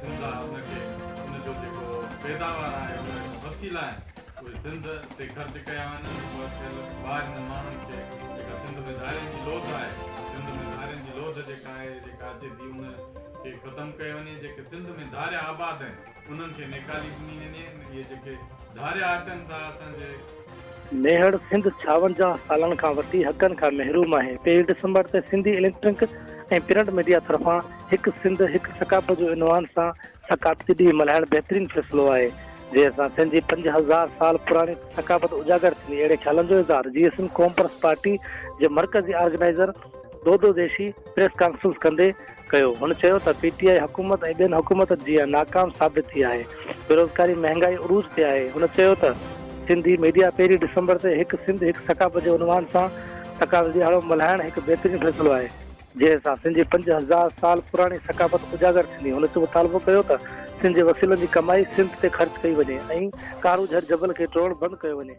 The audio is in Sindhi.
سنڌ آهي ان کي ان جو جيڪو پيداوار آهي ان جا وسيلا آهن اهي سنڌ تي خرچ ڪيا وڃن ۽ ٿيل ٻاهرين ماڻهن کي جيڪا سنڌ ۾ ڌارين جي لوڌ آهي سنڌ ۾ ڌارين جي لوڌ جيڪا آهي جيڪا اچي ٿي ان کي ختم ڪيو وڃي جيڪي سنڌ ۾ ڌاريا آباد آهن انهن کي نيڪالي ڏني وڃي اهي جيڪي ڌاريا اچن ٿا اسان جي ميهڙ سنڌ ڇاونجاهه سالن کان وسيع حقن کان محروم آهي، ٽي ڊسمبر تي سنڌي اليڪٽرنڪ ۽ پرنٽ ميڊيا طرفان هڪ سنڌ هڪ ثقافت جو عنوان سان ثقافتي ڏينهن ملهائڻ بهترين فيصلو آهي جنهن سان سنجي پنج هزار سال پراڻي ثقافت اجاگر ٿيندي اهڙي خيالن جو اظهار جي سنڌ قومپرست پارٽي جي مرڪزي organiser Dodo Deshi press conference ڪندي ڪيو، هن چيو ته پي ٽي آء حڪومت ۽ ٻين حڪومتن جيان ناڪام ثابت ٿي آهي، بيروزگاري مهنگائي عروج تي آهي، هن چيو ته. سنڌي ميڊيا پهرين ڊسمبر تي هڪ سنڌ هڪ ثقافت جي عنوان سان ثقافت ڏيهاڙو ملهائڻ هڪ بهترين فيصلو آهي، جنهن سان سنڌ جي پنج هزار سال پراڻي ثقافت اجاگر ٿيندي، هن مطالبو ڪيو ته سنڌ جي وسيلن جي ڪمائي سنڌ تي خرچ ڪئي وڃي ۽ ڪارو جهڙ جبل کي ٽوڙڻ بند ڪيو وڃي.